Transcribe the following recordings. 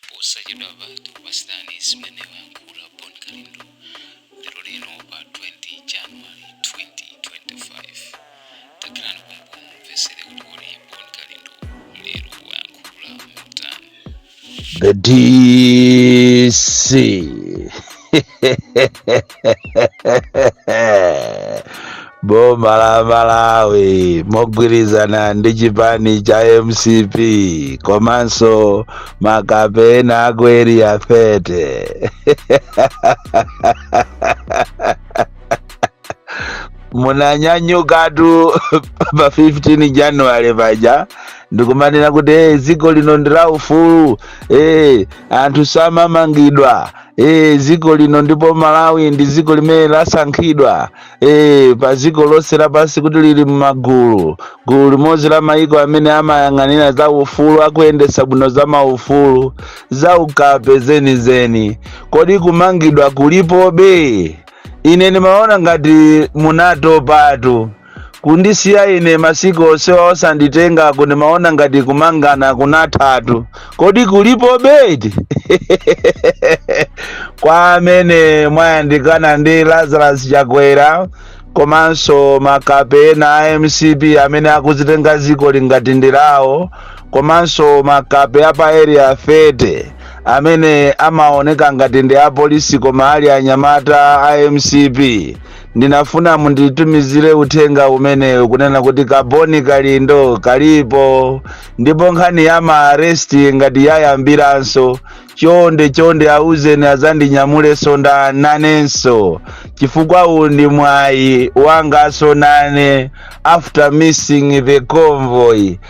posachedwapa tikupasirani zimene wayankhula bon kalindo lero lino pa 20 january 2025 takilani komkuno mumvesere kuti kodi bon kalindo lero wayankhula motani The DC. boma la malawi mogwirizana ndi chipani cha mcp komanso makape ena aku area 30 munanyanyukatu pa 15 january paja ndikumanena kuti hey, dziko lino ndi la ufulu hey, anthu samamangidwa e, dziko lino ndipo malawi ndi dziko limene lasankhidwa e, pa dziko lonse lapansi kuti lili m'magulu gulu limodzi la mayiko amene amayang'anira za ufulu akuyendetsa bwino za maufulu za ukape zenizeni kodi kumangidwa kulipobe? ine ndimaona ngati munatopatu kundisiya ine masiku onsewa osanditenga ndimaona ngati kumangana kunathatu kodi kulipobe eti kwa amene mwayandikana ndi lazarus chakwera komanso makape ena a mcp amene akuzitenga ziko ili ngati ndi lawo komanso makape apa area 30 amene amaoneka ngati ndi apolisi koma ali anyamata a mcp ndinafuna munditumizire uthenga umenewu kunena kuti ka bon kalindo kalipo ndipo nkhani ya maaresti ngati yayambiranso chonde chonde auzeni azandinyamulenso nda nanenso chifukwa uwu ndi mwayi wanganso nane after missing the convoy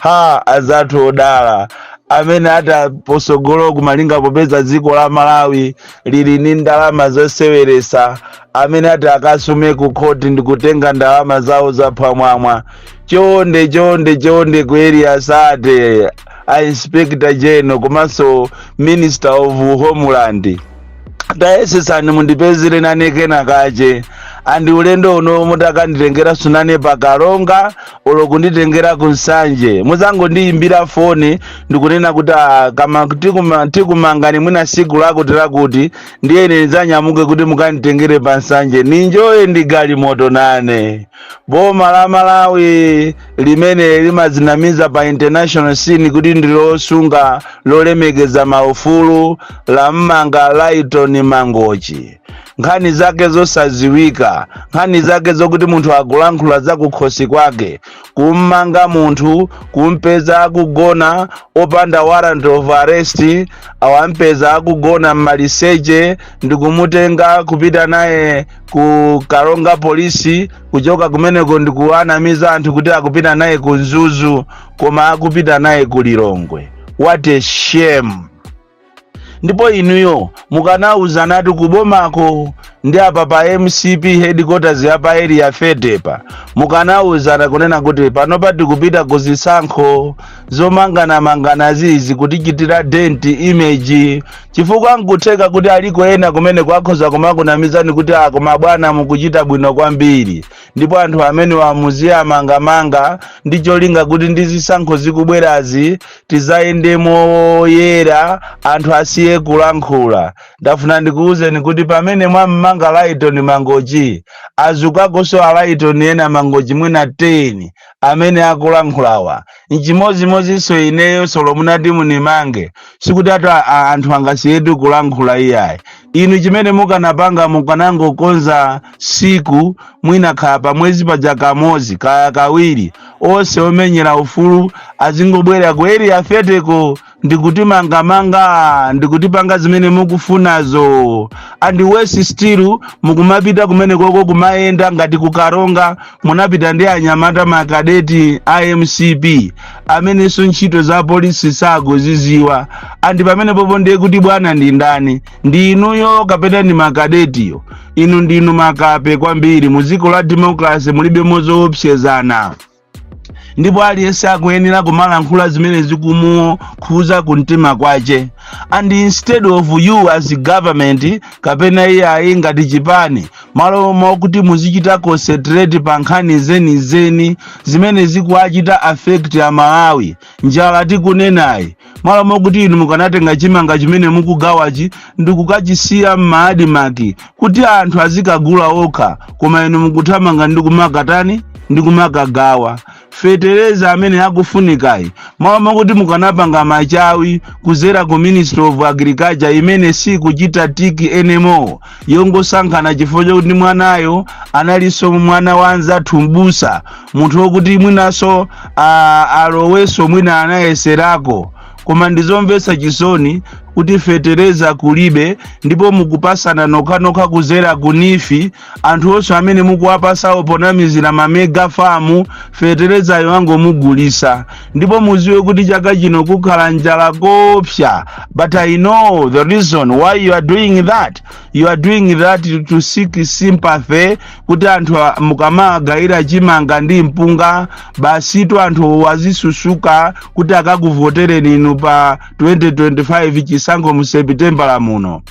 ha azathu odala amene ali patsogolo malinga popeza dziko la malawi lili ndi ndalama zoseweresa amene ati akasume ku khoti ndi kutenga ndalama zawo zaphwamwamwa chonde chonde chonde ku area 30 a inspector general komanso minister of homeland tayesesani mundipezere nane kena kache and ulendo uno mutakanditengeranso nane pa karonga olo kunditengera ku nsanje muzangondiyimbira foni ndikunena kuti "Ah, kama tikuma- tikumangani mwina siku lakuti lakuti ndiye ine ndidzanyamuke kuti mukanditengere pa nsanje ni-enjoye ndi galimoto nane boma la malawi limene limadzinamiza pa international scene kuti ndilosunga lolemekeza maufulu la mmanga lytton mangochi nkhani zake zosadziwika nkhani zake zokuti munthu akulankhula zakukhosi kwake kummanga munthu kumpeza akugona opanda warrant of arrest awampeza akugona mmaliseche ndikumutenga kupita naye ku karonga polisi kuchoka kumeneko ndikuwanamiza anthu kuti akupita naye ku mzuzu koma akupita naye ku lilongwe what a shame ndipo inuyo mukanawuzanatu kubomako ndi apa pa mcp headquarters ya pa area 30 pa mukanawuzana kunena kuti panopa tikupita ku zisankho zomanganamanganazi zikutichitira dent image chifukwa nkutheka kuti aliko ena kumene ko akhoza kumakunamizani kuti a koma abwana mukuchita bwino kwambiri ndipo anthu amenewa muziwamangamanga ndi cholinga kuti ndi zisankho zikubwerazi tidzayende moyera anthu asiye kulankhula ndafuna ndikuwuzeni kuti pamene mwammanga lytton mangochi adzukakonso a lytton ena mangochi mwina 10 amene akulankhulawa nchimodzimodzinso ineyo solo mutati mundimange sikutitu a- a- anthu angasiyetu kulankhula iyayi inu chimene mukanapanga mukanangokonza siku mwina khala pamwezi paja kamodzi kaya kawiri onse omenyera ufulu azingobwera ku area 30 ko ndikutimangamanga ndikutipanga zimene mukufunazo and worse still mukumapita kumeneko ko kumayenda ngati ku karonga munapita ndi anyamata makadeti a mcp amenenso ntchito za polisi sakuzidziwa and pamenepo po ndiye kuti bwana ndi ndani ndi inuyo kapena ndi makadetiyo inu ndinu makape kwambiri mu dziko la democracy mulibe zoopsezana ndipo aliyense akuyenera kumalankhula zimene zikumukhudza kumtima kwake and instead of you as government kapena iyayi ngati chipani malo mokuti muzichita concentrate pa nkhani zenizeni zimene zikuwachita affect amalawi njala tikunenayi malo mokuti inu mukanatenga chimanga chimene mukugawachi ndi kukachisiya m'maadimaki kuti anthu azikagula okha koma inu mukuthamanga ndi kumakatani ndi kumakagawa fetereza amene akufunikayi malo mokuti mukanapanga machawi kudzera ku ministry of agriculture imene sikuchita tick anymore yongosankhana chifukwa chakuti mwanayo analinso mwana wa anzathu mbusa munthu wokuti mwinanso ah, alowenso mwina anayeserako koma ndizomvetsa chisoni kuti fetereza kulibe ndipo mukupasana nokhanokha kuzera kunifi anthu onse amene mukuwapasawo ponamizira ma mega farm feterezayo akangomugulisa ndipo muziwe kuti chaka chino kukhala njala koopsa but i know the reason why you are doing that you are doing that to seek sympathy kuti anthu a- mukamagayira chimanga ndi mpunga basitu anthu azisusuka kuti akakuvotereni inu pa 2025 chisankho mu sepitembala muno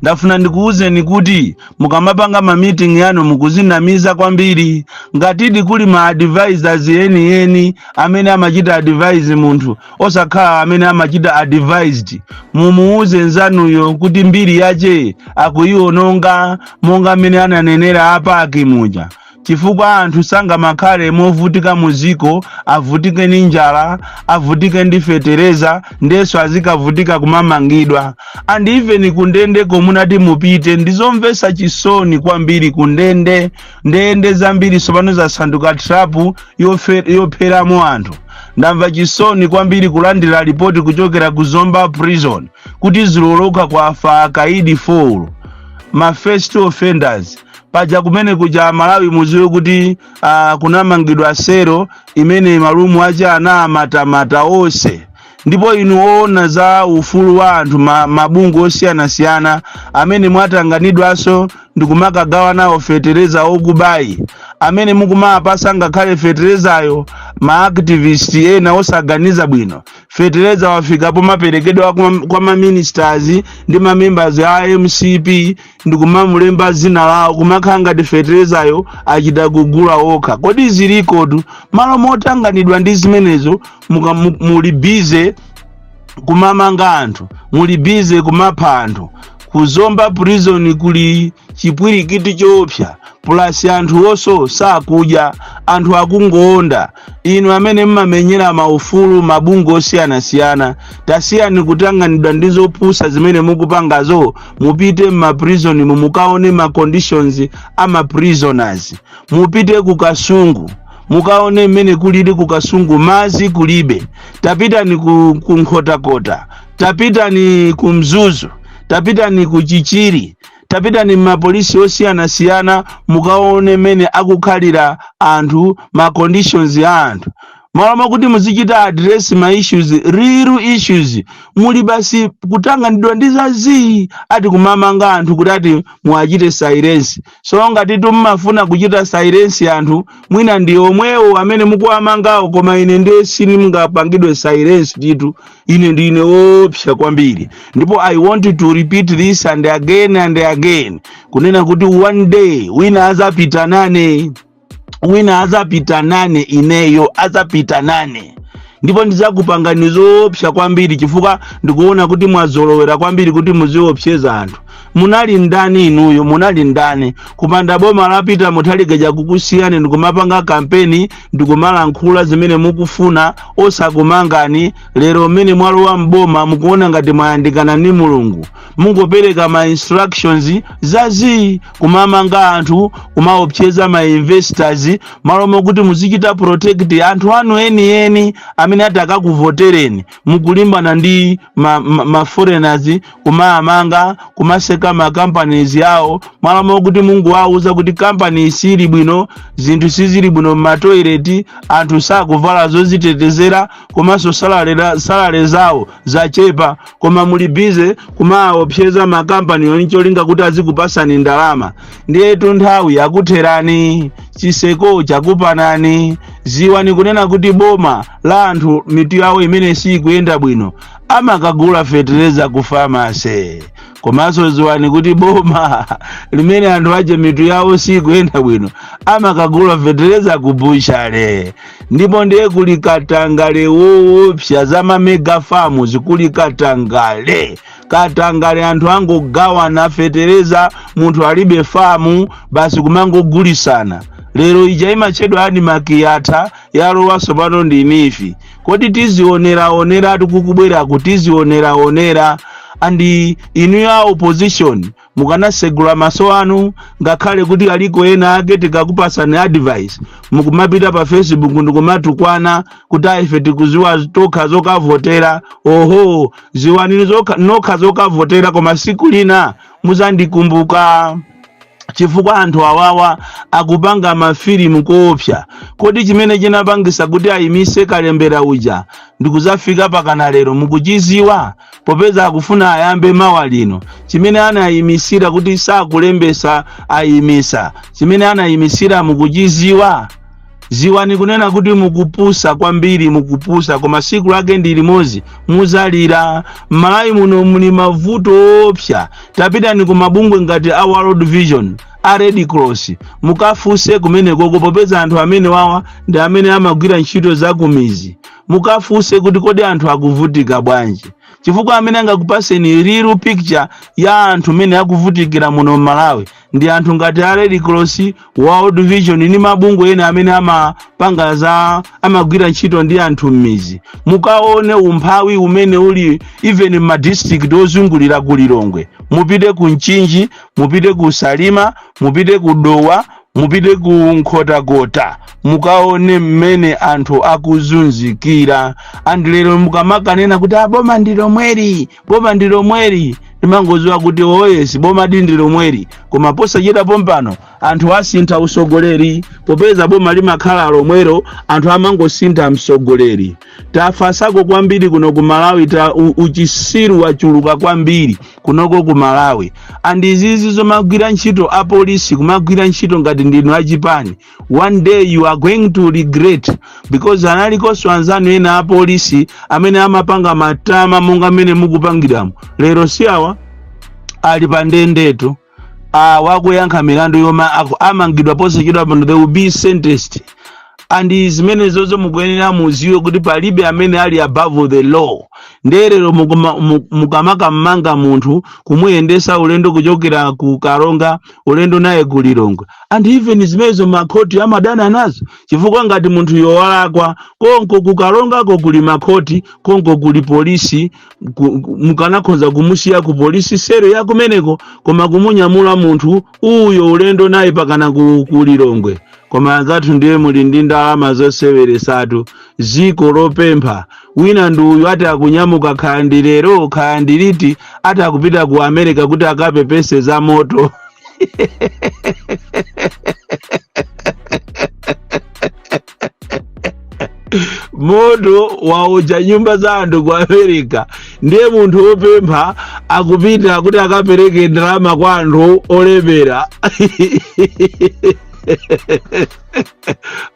ndafuna ndikuwuzeni kuti mukamapanga ma meeting yanu mukuzinamiza kwambiri ngatidi kuli ma advisors yeniyeni amene amachita advise munthu osakhala amene amachita advised mumuwuze nzanuyo kuti mbiri yache akuyiwononga monga mmene ananenera a Bakili muja chifukwa anthu sangamakhale movutika mu dziko avutike ndi njala avutike ndi fetereza ndinso azikavutika kumamangidwa and even kundende komunati mupite ndizomvetsa chisoni kwambiri kundende ndende zambiri tsopano zasanduka trapu yofe- yopheramo anthu ndamva chisoni kwambiri kulandira ripoti kuchokera ku zomba prison kuti ziloloka kwafa akaidi 4 ma first offenders paja kumene kuja malawi muziwe kuti uh, kunamangidwa sero imene ma room aja anamatamata onse ndipo inu oona za ufulu wa anthu ma, mabungwe osiyanasiyana amene mwatanganidwanso ndikumakagawa nawo fetereza okubayi amene mukumapasa ngakhale feterezayo maactivist ena osaganiza bwino fetereza wafika pomaperekedwa kwa, kwa maministers ndi mamembers a mcp ndikumamulemba zina lawo kumakhala ngati feterezayo achita kugula okha kodi zilikotu mmalo motanganidwa ndi zimenezo muka- mu- muli bize kumamanga anthu muli bize kumapha anthu ku zomba prison kuli chipwirikiti choopsa plus anthu onse sakudya anthu akungoonda inu amene mmamenyera maufulu mabungwe osiyanasiyana tasiyani kutanganidwa ndi zopusa zimene mukupangazo mupite mmaprizonimu mukaone ma conditions a maprisoners mupite ku kasungu mukaone mmene kulili ku kasungu mazi kulibe tapitani ku, ku nkhotakota tapitani ku mzuzu tapitani ku chichiri tapitani m'mapolisi osiyanasiyana mukaone mmene akukhalira anthu ma conditions a anthu malo mwakuti muzichita address ma issues real issues muli basi kutanganidwa ndi zazii ati kumamanga anthu kuti ati muwachite silence so ngatitu mumafuna kuchita silence anthu mwina ndi omwewo amene mukuwamangawo koma ine ndiye sindingapangidwe silence ditu ine ndine woopsa kwambiri ndipo i want to repeat this and again and again kunena kuti one day wina azapita nane wina azapita nane ineyo azapita nane ndipo ndizakupangani zoopsa kwambiri chifukwa ndikuona kuti mwazolowera kwambiri kuti muziopseza anthu munali ndani inuyo munali ndani kupanda boma lapita Mutharika uja kukusiyani ndikumapanga kampeni ndikumalankhula zimene mukufuna osakumangani lero mmene mwalowa mboma mukuona ngati mwayandikana ni mulungu mungopereka ma instructions zazii kumamanga anthu kumaopseza ma investors malo mokuti muzichita protect anthu anu enieni amene atakakuvotereni mukulimbana ndi ma ma ma foreigners kumamanga kumaseka ma companies yawo malo mokuti mungowauza kuti company sili bwino zinthu sizili bwino m'matoileti anthu sakuvala zozitetezera komanso salale salale zawo zachepa koma muli bize kumaopseza makampaniwo ncholinga kuti azikupasani ndalama ndiyetu nthawi yakutherani chiseko chakupanani ziwani kunena kuti boma la anthu mitu yawo imene sikuyenda bwino amakagula fetereza ku famase komanso ziwani kuti boma limene anthu ache mitu yawo sikuyenda bwino amakagula fetereza ku buchale ndipo ndiye kuli katangale woopsa za mamega famu zikuli katangale katangale anthu angogawana fetereza munthu alibe famu basi kumangogulisana lero ija imatchedwa admarc yatha yalowanso pano ndi NEEF kodi tizioneraoneratu kukubweraku tizioneraonera and inu a opposition mukanasegula maso anu ngakhale kuti aliko ena ake tikakupasani advice mukumapita pa facebook ndikumatukwana kuti aife tikuziwa tokha zokavotera oho ziwani nokha zokavotera koma siku lina muzandikumbuka chifukwa anthu awawa akupanga mafilimu koopsa kodi chimene chinapangisa kuti ayimise kalembera uja ndikuzafika pakana lero mukuchiziwa popeza akufuna ayambe mawa lino chimene anayimisira kuti sakulembesa ayimisa chimene anayimisira mukuchiziwa ziwani kunena kuti mukupusa kwambiri mukupusa koma siku lake ndi limodzi muzalira m'malawi muno muli mavuto oopsa tapitani ku mabungwe ngati a world vision a red cross mukafunse kumenekoko popeza anthu amenewawa ndi amene amagwira ntchito zakumizi mukafunse kuti kodi anthu akuvutika bwanji chifukwa amene angakupaseni real picture ya anthu mmene akuvutikira muno m'malawi ndi anthu ngati a red cross world vision ndi mabungwe ena amene amapanga za amagwira ntchito ndi anthu m'mizi mukaone umphawi umene uli even m'madistrict ozungulira ku lilongwe mupite ku mchinji mupite ku salima mupite ku dowa mupite ku nkhotakota mukaone mmene anthu akuzunzikira and lero mukamakanena kuti aboma ndi lomweri boma ndi lomweri timangoziwa kuti oh yes bomadi ndi lomweri koma posachedwa pompano anthu asintha usogoleri popeza boma limakhala lomwero anthu amangosintha msogoleri tafasako kwambiri kuno ku malawi ta u- uchisiru wachuluka kwambiri kunoko ku malawi and izizi zomagwira ntchito apolisi kumagwira ntchito ngati ndinu achipani one day you are going to regret because analikonso anzanu ena apolisi amene amapanga matama monga mmene mukupangiramo lero si awa ali pa ndendetu awa akuyankha milandu yomwe aku- amangidwa posachedwa pano they will be sentenced and zimenezozo mukuyenera muziwe kuti palibe amene ali above the law nde lero mukamakammanga munthu kumuyendesa ulendo kuchokera ku karonga ulendo naye ku lilongwe and even zimenezo makhoti amadana nazo chifukwa ngati munthuyo walakwa konko ku karongako kuli makhoti konko kuli polisi mukanakhoza kumusiya ku polisi sero ya kumeneko koma kumunyamula munthu uyo ulendo naye mpakana ku lilongwe koma anzathu ndiye muli ndi ndalama zoseweresatu ziko lopempha wina ndi uyu ati akunyamuka kaya ndi lero kaya ndi liti ati akupita ku america kuti akapepese za moto moto waotcha nyumba za anthu ku america ndiye munthu wopempha akupita kuti akapereke ndalama kwa anthu olemera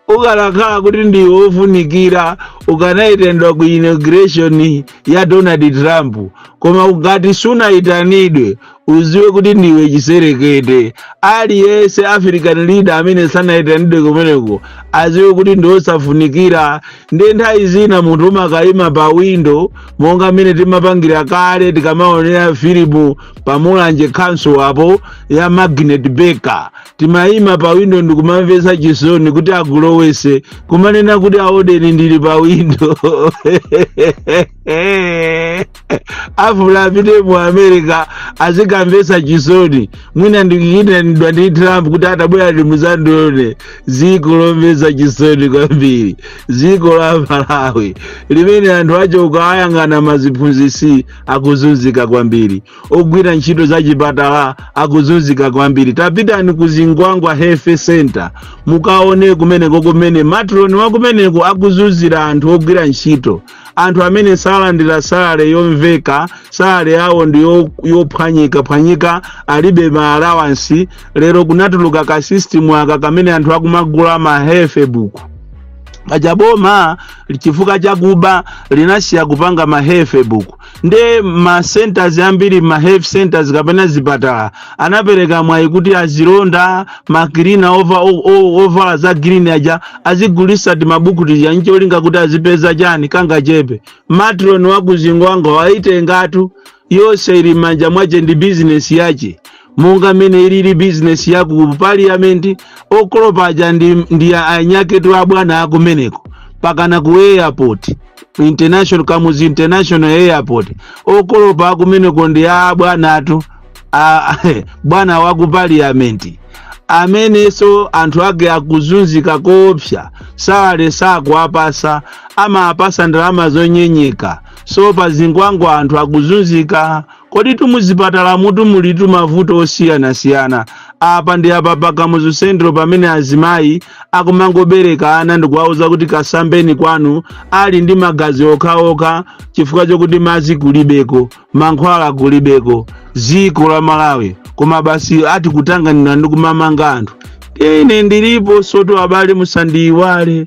ukanakhala kuti ndiwe wofunikira ukanayitanidwa ku inauguration ya donald trump koma ngati sunayitanidwe uziwe kuti ndiwe chiserekete aliyense african leader amene sanayitanidwe kumeneko aziwe kuti ndiosafunikira ndiye nthawi zina munthu umakayima pa windo monga mmene timapangira kale tikamaonera filimu pamulanje council apo ya magnet baker timayima pa windo ndikumamvesa chisoni kuti akulowese kumanena kuti aoneni ndili pa windo Eh, afuna apite mu america azikamvesa chisoni mwina ndikuyitanidwa ndi trump kuti atabwera muzandione ziko lomvesa chisoni kwambiri ziko la malawi limene anthu ache ukawayang'ana maziphunzisi akuzunzika kwambiri ogwira ntchito za chipatala akuzunzika kwambiri tapitani ku zingwangwa health center mukaone kumeneko kumene matron wakumeneko akuzunzira anthu ogwira ntchito Anthu amene salandira salary yomveka, salary yawo ndi yo- yophwanyikaphwanyika, alibe ma allowance, lero kunatuluka ka system aka kamene anthu akumagula ma health book. Paja boma chifukwa chakuba linasiya kupanga ma health book. nde ma centers ambiri ma health centers kapena zipatala anapereka mwayi kuti azilonda makirina ova- o- o- ovala za green aja azigulisa timabuku tija ncholinga kuti azipeza chani kangachepe matron wakuzingwangwa waitengatu yonse ili manja mwache ndi bizinesi yache monga mmene ilili bizinesi ya ku paliyamenti okolopa aja ndi, ndi anyaketi abwana akumeneko pakana ku airport international kamuzu international airport okolopa akumeneko ndi a bwana atu a- bwana wa ku paliyamenti amenenso anthu ake akuzunzika koopsa salary sakuwapasa amawapasa ndalama zonyenyeka so pa zingwangwa anthu akuzunzika Koditu muzipatalamutu mulitu mavuto osiyanasiyana. Apa ndi apa pa Kamuzu Central pamene azimayi akumangobereka ana ndikuwauza kuti kasambeni kwanu ali ndi magazi okhaokha chifukwa chokuti madzi kulibeko, mankhwala kulibeko, dziko la Malawi koma basi ati kutanganidwa ndi kumamanga anthu. Ine ndilipo soto abale musandiyiwale.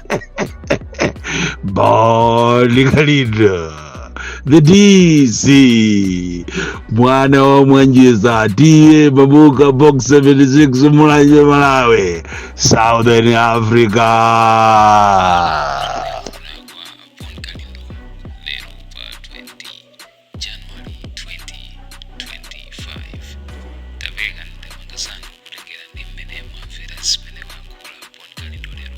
Bali Khalida the DC mwana wa mwanjeza tiye babuka box 76 mulanje Malawi Southern Africa January 2025 Tapereka ndemanga zanu kutengera ndi mmene mwamvera zimene wayankhula Bon Kalindo lero